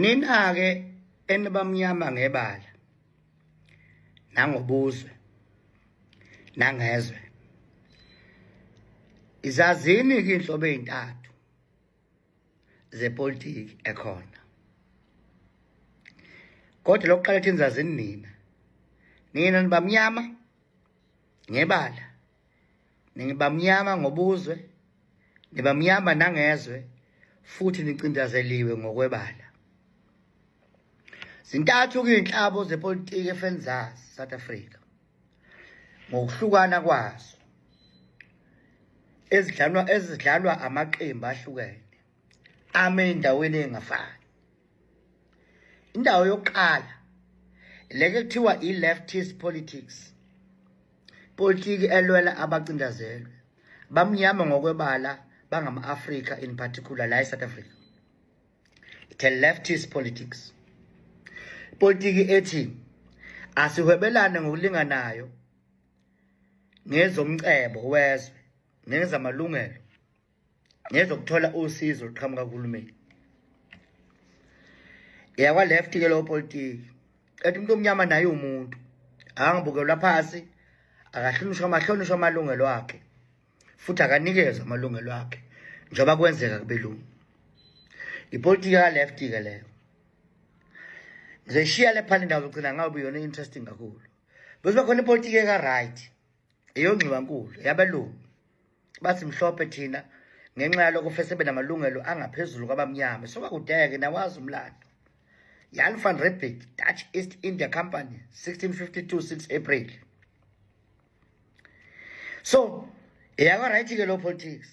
Nina-ke enibamnyama ngebala nangobuzwe nangezwe izazini ke inhlobo ezintathu zepolitiki ekhona kodwa lokuqala thini zazini nina nina nibamnyama ngebala Ningibamnyama ngobuzwe, nibamnyama nangezwe futhi nicindazeliwe ngokwebala. Zintathu kuyinhlabo zepolitiki efenizazi South Africa. Ngokuhlukana kwazo ezidlalwa ezidlalwa amaqembu ahlukene ame endaweni engafani. Indawo yokuqala leke kuthiwa i-leftist politics. Politiki elwela abacindazelwe bamnyama ngokwebala bangama-Afrika in particular la eSouth Africa. It's a leftist politics. Politiki ethi asihwebelane ngokulinganayo ngezomcebo wezwe nezamalungelo ngezokuthola usizo oluqhamuka kuhulumeni yakwa-left ke lowo politiki ethi umuntu omnyama naye umuntu akangibukelwa phasi akahlonishwa amahlonishwa amalungelo akhe futhi akanikezwa amalungelo akhe njengoba kwenzeka kubelungu ipolitiki yaka-left-ke leyo ngizoyishiya le phana indawo zogcina ngabe yona i-interesting kakhulu bese bakhona ipolitiki eka-right eyongxiwankulu yabelungu bathi mhlophe thina ngenxa yalokho fese benamalungelo angaphezulu kwabamnyama sokakudeke nawazi umlando Jan van Riebeeck Dutch East India Company 1652 6 April so eyakwa right ke lo politics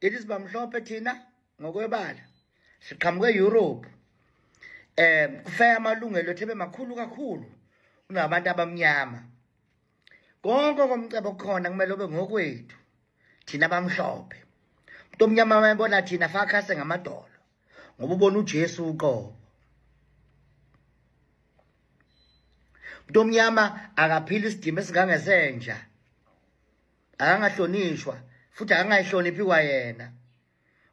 it is bamhlophe thina ngokwebala siqhamuke Europe eh kufaya amalungelo ethebe makhulu kakhulu kunabantu abamnyama konke komcebo khona kumele ube ngokwethu thina bamhlophe umuntu omnyama wayebona thina fakhase ngamadolo ngoba ubona uJesu uqobo umuntu omnyama akaphila isidima esingangesenja akangahlonishwa futhi akangayihloniphi kwayena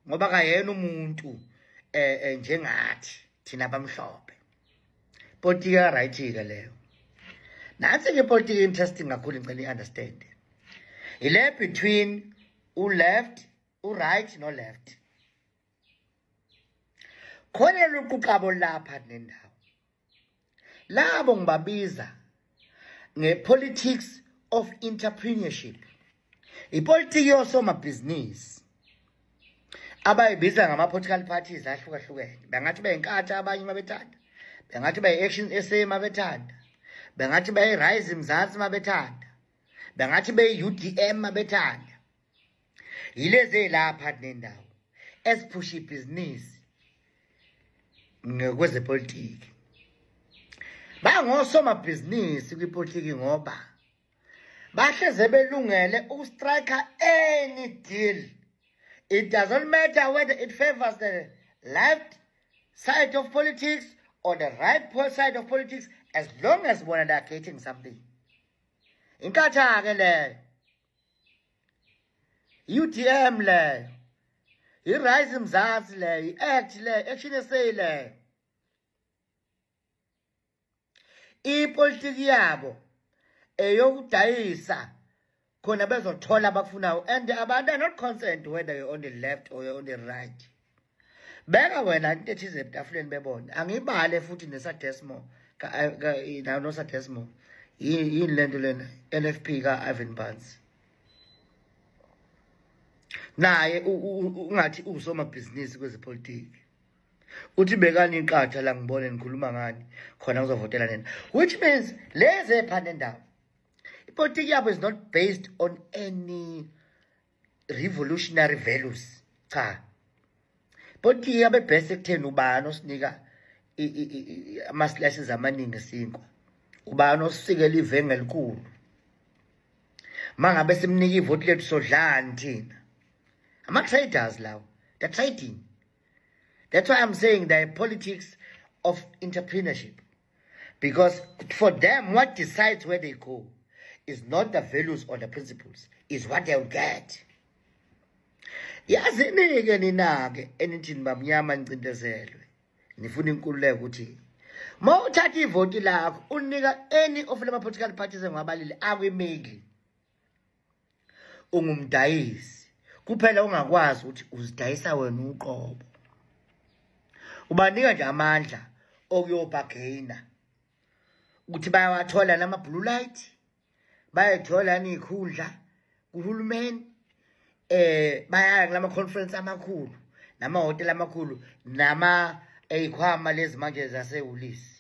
ngoba kayena umuntu eh, eh njengathi thina bamhlophe politiki ya right ke leyo nansi ke politiki interesting kakhulu ngicela iunderstand ile between u left u right no left khona luquqabo lapha nendawo labo ngibabiza ngepolitics of entrepreneurship ipolitiki yosomabhizinisi abayibiza ngama-political parties ahlukahlukene bengathi beyinkatha abanye uma bethanda bengathi beyi-action sa uma bethanda bengathi beyi-rise mzansi uma bethanda bengathi beyi-udm uma bethanda yilezi ey'lapha kunendawo eziphusha ibhizinisi ngokwezepolitiki bangosomabhizinisi kwipolitiki ngoba bahleze belungele ukustrike any deal it doesn't matter whether it favors the left side of politics or the right side of politics as long as bona they are getting something inkathake leyo UDM leyo iRise Mzansi leyo iAct leyo Action SA leyo ipolitiki yabo eyokudayisa khona bezothola abakufunayo and abantu are not concerned whether you're on the left or you're on the right beka wena into ethize ebutafuleni bebona angibale futhi nesadesmo nosadesmo yini le nto lena nfp ka-ivan bans naye ungathi usomabhizinisi kwezepolitiki uthi bekani iqatha la ngibone nikhuluma ngani khona ngizovotela nina which means lezi ephanda endaba ipolitiki yabo is not based on any revolutionary values cha kodwa iyabe best ekutheni ubani osinika ama slices amaningi sinkwa ubani osisikela ivenge elikhulu mangabe simnika ivoti lethu sodlani thina ama traders lawo the trading that's why i'm saying the politics of entrepreneurship Because for them, what decides where they go is not the values or the principles, is what they'll get. yazini-ke nina-ke enithini bamnyama nicindezelwe nifuna inkululeko ukuthi ma uthatha ivoti lakho unika any of lama-political parties engiwabalile akwimeli ungumdayisi kuphela ungakwazi ukuthi uzidayisa wena uqobo ubanika nje amandla okuyobhageyina ukuthi bayawathola nama-blue light bayayithola niyikhundla kuhulumeni eh bayaya kulama conference amakhulu nama hotel amakhulu nama eyikhwama lezi manje zasehulisi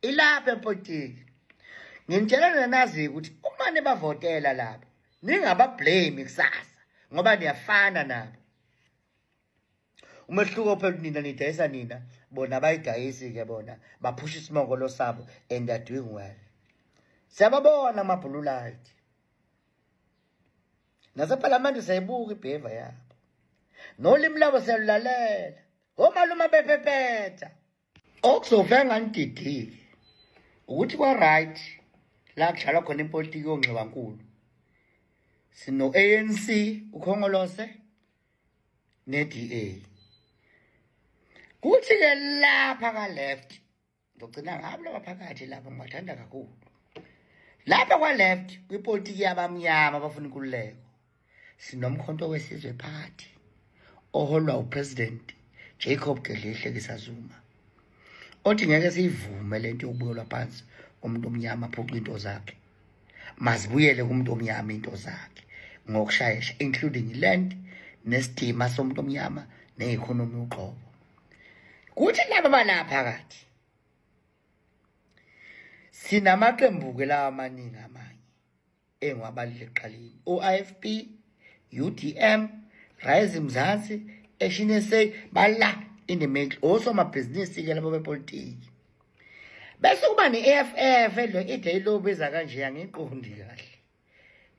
ilapha epolitiki nginitshela nina naziyo ukuthi uma nibavotela labo ningabablame kusasa ngoba niyafana nabo umehluko phela nina nidayisa nina bona bayidayisi-ke bona baphusha isimongolo sabo and they're doing well siyababona amabhululayithi nasephalamende siyayibuka ibheva yabo nolimi labo siyalulalela omalume bephephetha Okuzovela nganididile ukuthi kwa right la kudlalwa khona ipolitiki yongxiwankulu sino ANC ukhongolose neDA kuthi ke lapha ka left ngigcina ngabo laba phakathi lapha ngibathanda kakhulu lapha kwa left kwipolitiki yabamnyama abafuna inkululeko sinomkhonto wesizwe party oholwa upresident Jacob Gedlehle Kisazuma othi ngeke siyivume lento yokubuyelwa phansi umuntu omnyama phuca into zakhe mazibuyele kumuntu omnyama into zakhe ngokushayesha including land nesidima somuntu omnyama neeconomy uqobo kuthi laba balaphakathi sinamaqembu ke lawa amaningi amanye engiwabalile ekuqaleni o-ifp udm rise mzansi action sa bala in the middle osomabhizinisi-ke labo bepolitiki bese kuba ne-eff lo ide ilobiza kanje angiqondi kahle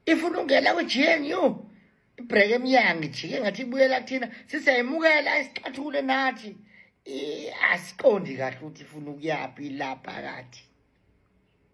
ifuna ungena kwi-gnu ibhreke emnyango ijike ngathi ibuyela kuthina siseyimukela isixathule nathi asiqondi kahle ukuthi ifuna ukuyaphi la phakathi